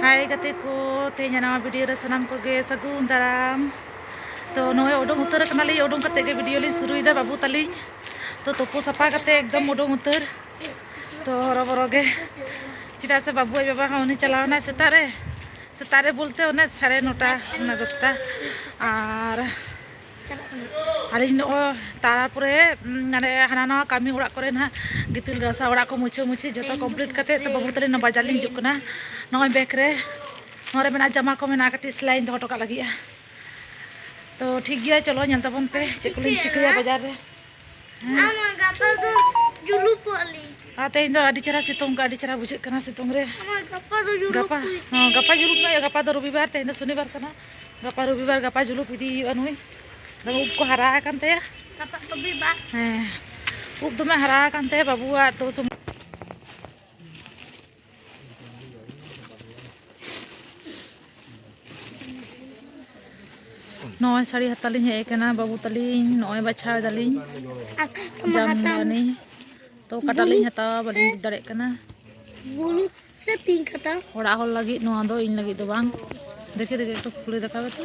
ᱦᱟᱭ ᱜᱟᱛᱮ ᱠᱚ ᱛᱮᱦᱮᱧ ᱱᱟᱣᱟ ᱵᱷᱤᱰᱤᱭᱳ ᱨᱮ ᱥᱟᱱᱟᱢ ᱠᱚᱜᱮ ᱥᱟᱹᱜᱩᱱ ᱫᱟᱨᱟᱢ ᱛᱚ ᱱᱚᱜᱼᱚᱭ ᱩᱰᱩᱝ ᱩᱛᱟᱹᱨ ᱠᱟᱱᱟᱞᱤᱧ ᱩᱰᱩᱝ ᱠᱟᱛᱮ ᱜᱮ ᱵᱷᱤᱰᱤᱭᱳ ᱞᱤᱧ ᱥᱩᱨᱩᱭᱮᱫᱟ ᱵᱟᱹᱵᱩ ᱛᱟᱹᱞᱤᱧ ᱛᱚ ᱛᱩᱯᱩ ᱥᱟᱯᱷᱟ ᱠᱟᱛᱮ ᱮᱠᱫᱚᱢ ᱩᱰᱩᱝ ᱩᱛᱟᱹᱨ ᱛᱚ ᱦᱚᱨᱚᱵᱚᱨᱚ ᱜᱮ ᱪᱮᱫᱟᱜ ᱥᱮ ᱵᱟᱹᱵᱩ ᱟᱡ ᱵᱟᱵᱟ ᱦᱚᱸ ᱩᱱᱤ ᱪᱟᱞᱟᱣᱱᱟᱭ ᱥᱮᱛᱟᱜ ᱨᱮ ᱥᱮᱛᱟᱜ ᱨᱮ ᱵᱚᱞᱛᱮ ᱚᱱᱮ ᱥᱟᱲᱮ ᱱᱚᱴᱟ ᱚᱱᱟ ᱫᱚᱥᱴᱟ ᱟᱨ ᱟᱹᱞᱤᱧ ᱱᱚᱜᱼᱚᱭ ᱛᱟᱨᱯᱚᱨᱮ ᱢᱟᱱᱮ ᱦᱟᱱᱟ ᱱᱟᱣᱟ ᱠᱟᱹᱢᱤ ᱚᱲᱟᱜ ᱠᱚᱨᱮ ᱱᱟᱦᱟᱜ ᱜᱤᱛᱤᱞ ᱜᱟᱥᱟᱣ ᱚᱲᱟᱜ ᱠᱚ ᱢᱩᱪᱷᱟᱹ ᱢᱩᱪᱷᱤ ᱡᱚᱛᱚ ᱠᱚᱢᱯᱞᱤᱴ ᱠᱟᱛᱮ ᱛᱚ ᱵᱟᱹᱵᱩ ᱛᱟᱹᱞᱤᱧ ᱵᱟᱡᱟᱨ ᱞᱤᱧ ᱦᱤᱡᱩᱜ ᱠᱟᱱᱟ ᱱᱚᱜᱼᱚᱭ ᱵᱮᱜᱽ ᱨᱮ ᱱᱚᱣᱟ ᱨᱮ ᱢᱮᱱᱟᱜᱼᱟ ᱡᱟᱢᱟ ᱠᱚ ᱢᱮᱱᱟᱜᱼᱟ ᱠᱟᱹᱴᱤᱡ ᱥᱮᱞᱟᱭᱤᱧ ᱫᱚᱦᱚ ᱦᱚᱴᱚ ᱠᱟᱜ ᱞᱟᱹᱜᱤᱫᱼᱟ ᱛᱚ ᱴᱷᱤᱠ ᱜᱮᱭᱟ ᱪᱚᱞᱚ ᱧᱮᱞ ᱛᱟᱵᱚᱱ ᱯᱮ ᱪᱮᱫ ᱠᱚᱞᱤᱧ ᱪᱤᱠᱟᱹᱭᱟ ᱵᱟᱡᱟᱨ ᱨᱮ ᱟᱨ ᱛᱮᱦᱮᱧ ᱫᱚ ᱟᱹᱰᱤ ᱪᱮᱦᱨᱟ ᱥᱤᱛᱩᱝ ᱠᱚ ᱟᱹᱰᱤ ᱪᱮᱦᱨᱟ ᱵᱩᱡᱷᱟᱹᱜ ᱠᱟᱱᱟ ᱥᱤᱛᱩᱝ ᱨᱮ ᱜᱟᱯᱟ ᱜᱟᱯᱟ ᱡᱩᱞᱩᱯ ᱱᱚᱜᱼᱚᱭ ᱜᱟᱯᱟ ᱫᱚ ᱨᱚᱵᱤᱵᱟᱨ ᱛᱮᱦᱮᱧ ᱫᱚ ᱥᱚᱱᱤᱵᱟᱨ ᱠᱟᱱᱟ ᱜᱟᱯᱟ ᱨᱚᱵᱤᱵᱟᱨ ᱜᱟᱯᱟ ᱡᱩᱞᱩᱯ ᱤᱫᱤ ᱦᱩᱭᱩᱜᱼᱟ ᱱᱩᱭ ᱫᱚᱢᱮ ᱩᱵ ᱠᱚ ᱦᱟᱨᱟ ᱟᱠᱟᱱ ᱛᱟᱭᱟ ᱜᱟᱯᱟ ᱨᱚᱵᱤᱵᱟᱨ ᱦᱮᱸ ᱩᱵ ᱫᱚᱢᱮ ᱦᱟᱨᱟ ᱟᱠᱟᱱ ᱛᱟᱭᱟ ᱵᱟᱹᱵᱩᱣᱟᱜ ᱛᱚ ᱱᱚᱜᱼᱚᱭ ᱥᱟᱹᱲᱤ ᱦᱟᱛᱟᱣ ᱞᱤᱧ ᱦᱮᱡ ᱟᱠᱟᱱᱟ ᱵᱟᱹᱵᱩ ᱛᱟᱹᱞᱤᱧ ᱱᱚᱜᱼᱚᱭ ᱵᱟᱪᱷᱟᱣ ᱮᱫᱟᱞᱤᱧ ᱡᱟᱢᱫᱟᱱᱤ ᱛᱚ ᱚᱠᱟᱴᱟᱜ ᱞᱤᱧ ᱦᱟᱛᱟᱣᱟ ᱵᱟᱹᱞᱤᱧ ᱵᱩᱡᱽ ᱫᱟᱲᱮᱭᱟᱜ ᱠᱟᱱᱟ ᱵᱩᱞᱩ ᱥᱮ ᱯᱤᱝᱠ ᱦᱟᱛᱟᱣ ᱚᱲᱟᱜ ᱦᱚᱲ ᱞᱟᱹᱜᱤᱫ ᱱᱚᱣᱟ ᱫᱚ ᱤᱧ ᱞᱟᱹᱜᱤᱫ ᱫᱚ ᱵᱟᱝ ᱫᱮᱠᱷᱮ ᱫᱮᱠᱷᱮ ᱮᱠᱴᱩ ᱠᱷᱩᱞᱮ ᱫᱮᱠᱷᱟᱣ ᱛᱚ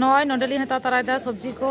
ᱱᱚᱜᱼᱚᱭ ᱱᱚᱰᱮ ᱞᱤᱧ ᱦᱟᱛᱟᱣ ᱛᱟᱨᱟᱭᱮᱫᱟ ᱥᱚᱵᱽᱡᱤ ᱠᱚ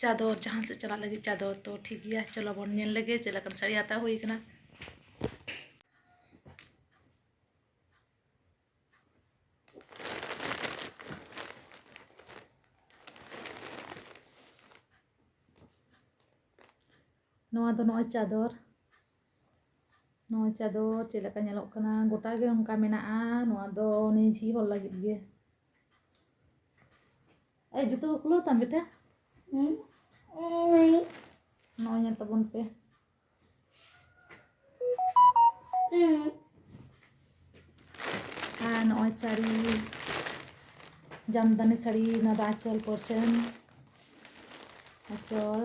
ᱪᱟᱫᱚᱨ ᱡᱟᱦᱟᱸ ᱥᱮᱫ ᱪᱟᱞᱟᱜ ᱞᱟᱹᱜᱤᱫ ᱪᱟᱫᱚᱨ ᱛᱚ ᱴᱷᱤᱠ ᱜᱮᱭᱟ ᱪᱚᱞᱚ ᱵᱚᱱ ᱧᱮᱞ ᱞᱮᱜᱮ ᱪᱮᱫ ᱞᱮᱠᱟᱱ ᱥᱟᱹᱲᱤ ᱦᱟᱛᱟᱣ ᱦᱩᱭ ᱠᱟᱱᱟ ᱱᱚᱣᱟ ᱫᱚ ᱱᱚᱜᱼᱚᱭ ᱪᱟᱫᱚᱨ ᱱᱚᱣᱟ ᱪᱟ ᱫᱚ ᱪᱮᱫ ᱞᱮᱠᱟ ᱧᱮᱞᱚᱜ ᱠᱟᱱᱟ ᱜᱚᱴᱟ ᱜᱮ ᱚᱱᱠᱟ ᱢᱮᱱᱟᱜᱼᱟ ᱱᱚᱣᱟ ᱫᱚ ᱱᱤᱡᱷᱤ ᱦᱚᱲ ᱞᱟᱹᱜᱤᱫ ᱜᱮ ᱟᱭ ᱡᱩᱛᱟᱹ ᱠᱚ ᱠᱷᱩᱞᱟᱹᱣ ᱛᱟᱢ ᱵᱮᱴᱟ ᱱᱚᱜᱼᱚᱭ ᱧᱮᱞ ᱛᱟᱵᱚᱱ ᱯᱮ ᱟᱨ ᱱᱚᱜᱼᱚᱭ ᱥᱟᱹᱲᱤ ᱡᱟᱢᱫᱟᱱᱤ ᱥᱟᱹᱲᱤ ᱱᱚᱣᱟ ᱫᱚ ᱟᱸᱪᱚᱞ ᱯᱚᱨᱥᱮᱱ ᱟᱸᱪᱚᱞ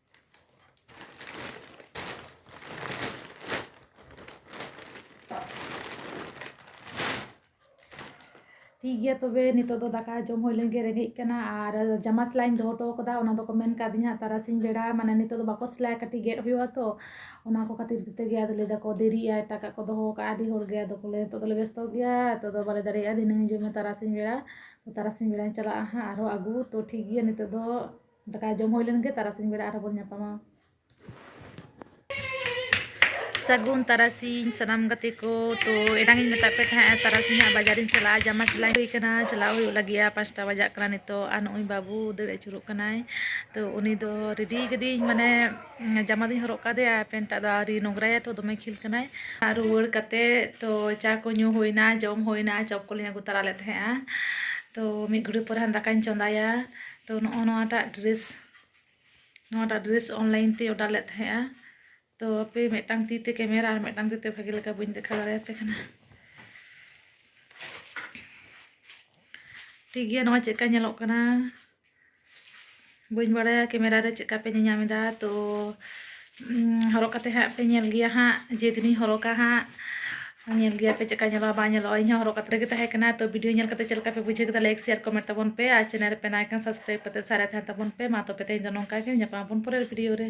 ᱴᱷᱤᱠ ᱜᱮᱭᱟ ᱛᱚᱵᱮ ᱱᱤᱛᱚᱜ ᱫᱚ ᱫᱟᱠᱟ ᱡᱚᱢ ᱦᱩᱭ ᱞᱮᱱ ᱜᱮ ᱨᱮᱸᱜᱮᱡ ᱠᱟᱱᱟ ᱟᱨ ᱡᱟᱢᱟ ᱥᱮᱞᱟᱭᱤᱧ ᱫᱚᱦᱚ ᱦᱚᱴᱚ ᱠᱟᱫᱟ ᱚᱱᱟ ᱫᱚᱠᱚ ᱢᱮᱱ ᱠᱟᱣᱫᱤᱧᱟ ᱛᱟᱨᱟᱥᱤᱧ ᱵᱮᱲᱟ ᱢᱟᱱᱮ ᱱᱤᱛᱚᱜ ᱫᱚ ᱵᱟᱠᱚ ᱥᱮᱞᱟᱭᱟ ᱠᱟᱹᱴᱤᱡ ᱜᱮᱫ ᱦᱩᱭᱩᱜᱼᱟ ᱛᱚ ᱚᱱᱟ ᱠᱚ ᱠᱷᱟᱹᱛᱤᱨ ᱠᱚᱛᱮ ᱜᱮ ᱟᱫᱚ ᱞᱟᱹᱭ ᱫᱟᱠᱚ ᱫᱮᱨᱤᱜᱼᱟ ᱮᱴᱟᱜᱟᱜ ᱠᱚ ᱫᱚᱦᱚ ᱠᱟᱜᱼᱟ ᱟᱹᱰᱤ ᱦᱚᱲ ᱜᱮ ᱟᱫᱚ ᱠᱚ ᱞᱟᱹᱭᱟ ᱱᱤᱛᱚᱜ ᱫᱚᱞᱮ ᱵᱮᱥᱛᱚ ᱜᱮᱭᱟ ᱱᱤᱛᱚᱜ ᱫᱚ ᱵᱟᱞᱮ ᱫᱟᱲᱮᱭᱟᱜᱼᱟ ᱫᱷᱤᱱᱟᱹᱝ ᱦᱤᱡᱩᱜ ᱢᱮ ᱛᱟᱨᱟᱥᱤᱧ ᱵᱮᱲᱟ ᱛᱟᱨᱟᱥᱤᱧ ᱵᱮᱲᱟᱧ ᱪᱟᱞᱟᱜᱼᱟ ᱦᱟᱸᱜ ᱟᱨᱦᱚᱸ ᱟᱹᱜᱩ ᱛᱚ ᱴᱷᱤᱠ ᱜᱮᱭᱟ ᱱᱤᱛᱚᱜ ᱫᱚ ᱫᱟᱠᱟ ᱡᱚᱢ ᱦᱩᱭ ᱞᱮᱱ ᱜᱮ ᱛᱟᱨᱟᱥᱤᱧ ᱵᱮᱲᱟ ᱟᱨᱦᱚᱸ ᱵᱚᱱ ᱧᱟᱯᱟᱢᱟ ᱥᱟᱹᱜᱩᱱ ᱛᱟᱨᱟᱥᱤᱧ ᱥᱟᱱᱟᱢ ᱜᱟᱛᱮ ᱠᱚ ᱛᱚ ᱮᱱᱟᱝ ᱤᱧ ᱢᱮᱛᱟᱫ ᱯᱮ ᱛᱟᱦᱮᱸᱜᱼᱟ ᱛᱟᱨᱟᱥᱤᱧ ᱦᱟᱸᱜ ᱵᱟᱡᱟᱨᱤᱧ ᱪᱟᱞᱟᱜᱼᱟ ᱡᱟᱢᱟ ᱥᱮᱞᱟᱭ ᱦᱩᱭ ᱠᱟᱱᱟ ᱪᱟᱞᱟᱣ ᱦᱩᱭᱩᱜ ᱞᱟᱹᱜᱤᱫᱼᱟ ᱯᱟᱸᱪᱴᱟ ᱵᱟᱡᱟᱜ ᱠᱟᱱᱟ ᱱᱤᱛᱚᱜ ᱟᱨ ᱱᱚᱜᱼᱚᱭ ᱵᱟᱹᱵᱩ ᱫᱟᱹᱲ ᱟᱹᱪᱩᱨᱚᱜ ᱠᱟᱱᱟᱭ ᱛᱚ ᱩᱱᱤ ᱫᱚ ᱨᱮᱰᱤ ᱠᱟᱹᱫᱤᱧ ᱢᱟᱱᱮ ᱡᱟᱢᱟ ᱫᱚᱧ ᱦᱚᱨᱚᱜ ᱠᱟᱫᱮᱭᱟ ᱯᱮᱱᱴᱟᱜ ᱫᱚ ᱟᱹᱣᱨᱤ ᱱᱚᱝᱨᱟᱭᱟ ᱛᱚ ᱫᱚᱢᱮ ᱠᱷᱤᱞ ᱠᱟᱱᱟᱭ ᱟᱨ ᱨᱩᱣᱟᱹᱲ ᱠᱟᱛᱮ ᱛᱚ ᱪᱟ ᱠᱚ ᱧᱩ ᱦᱩᱭᱱᱟ ᱡᱚᱢ ᱦᱩᱭᱱᱟ ᱪᱚᱯ ᱠᱚᱞᱤᱧ ᱟᱹᱜᱩ ᱛᱟᱨᱟ ᱞᱮᱫ ᱛᱟᱦᱮᱸᱜᱼᱟ ᱛᱚ ᱢᱤᱫ ᱜᱷᱩᱲᱤ ᱯᱚᱨᱮ ᱫᱟᱠᱟᱧ ᱪᱚᱸᱫᱟᱭᱟ ᱛᱚ ᱱᱚᱜᱼᱚ ᱱᱚᱣᱟᱴᱟᱜ ᱰᱨᱮᱥ ᱱᱚᱣᱟᱴᱟᱜ ᱰᱨᱮᱥ ᱚᱱᱞᱟᱭᱤᱱ ᱛᱮ ᱚᱰᱟᱨ ᱞᱮᱫ ᱛᱟᱦᱮᱸᱜᱼᱟ ᱛᱚ ᱟᱯᱮ ᱢᱤᱫᱴᱟᱝ ᱛᱤ ᱛᱮ ᱠᱮᱢᱮᱨᱟ ᱟᱨ ᱢᱤᱫᱴᱟᱝ ᱛᱤ ᱛᱮ ᱵᱷᱟᱜᱮ ᱞᱮᱠᱟ ᱵᱟᱹᱧ ᱫᱮᱠᱷᱟᱣ ᱫᱟᱲᱮᱭᱟᱯᱮ ᱠᱟᱱᱟ ᱴᱷᱤᱠ ᱜᱮᱭᱟ ᱱᱚᱣᱟ ᱪᱮᱫᱠᱟ ᱧᱮᱞᱚᱜ ᱠᱟᱱᱟ ᱵᱟᱹᱧ ᱵᱟᱲᱟᱭᱟ ᱠᱮᱢᱮᱨᱟ ᱨᱮ ᱪᱮᱫᱠᱟ ᱯᱮ ᱧᱮᱧᱟᱢ ᱮᱫᱟ ᱛᱚ ᱦᱚᱨᱚᱜ ᱠᱟᱛᱮ ᱦᱟᱸᱜ ᱯᱮ ᱧᱮᱞ ᱜᱮᱭᱟ ᱦᱟᱸᱜ ᱡᱮᱫᱤᱱᱤᱧ ᱦᱚᱨᱚᱜᱟ ᱦᱟᱸᱜ ᱧᱮᱞ ᱜᱮᱭᱟ ᱯᱮ ᱪᱮᱫᱠᱟ ᱧᱮᱞᱚᱜᱼᱟ ᱵᱟᱝ ᱧᱮᱞᱚᱜᱼᱟ ᱤᱧ ᱦᱚᱸ ᱦᱚᱨᱚᱜ ᱠᱟᱛᱮ ᱜᱮ ᱛᱟᱦᱮᱸ ᱠᱟᱱᱟ ᱛᱚ ᱵᱷᱤᱰᱤᱭᱳ ᱧᱮᱞ ᱠᱟᱛᱮ ᱪᱮᱫ ᱞᱮᱠᱟ ᱯᱮ ᱵᱩᱡᱷᱟᱹᱣ ᱠᱮᱫᱟ ᱞᱟᱭᱤᱠ ᱥᱮᱭᱟᱨ ᱠᱚᱢᱮᱱᱴ ᱛᱟᱵᱚᱱ ᱯᱮ ᱟᱨ ᱪᱮᱱᱮᱞ ᱨᱮ ᱯᱮ ᱱᱟᱣᱟ ᱠᱷᱟᱱ ᱥᱟᱵᱥᱠᱨᱟᱭᱤᱵ ᱠᱟᱛᱮ ᱥᱟᱨᱮ ᱛᱟᱦᱮᱱ ᱛᱟᱵᱚᱱ ᱯᱮ ᱢᱟ ᱛᱚᱵᱮ ᱛᱮᱦᱮᱧ ᱫᱚ ᱱᱚᱝᱠᱟ ᱜᱮ ᱧᱟᱯᱟᱢ ᱟᱵᱚᱱ ᱯᱚᱨᱮᱨ ᱵᱷᱤᱰᱤᱭᱳ ᱨᱮ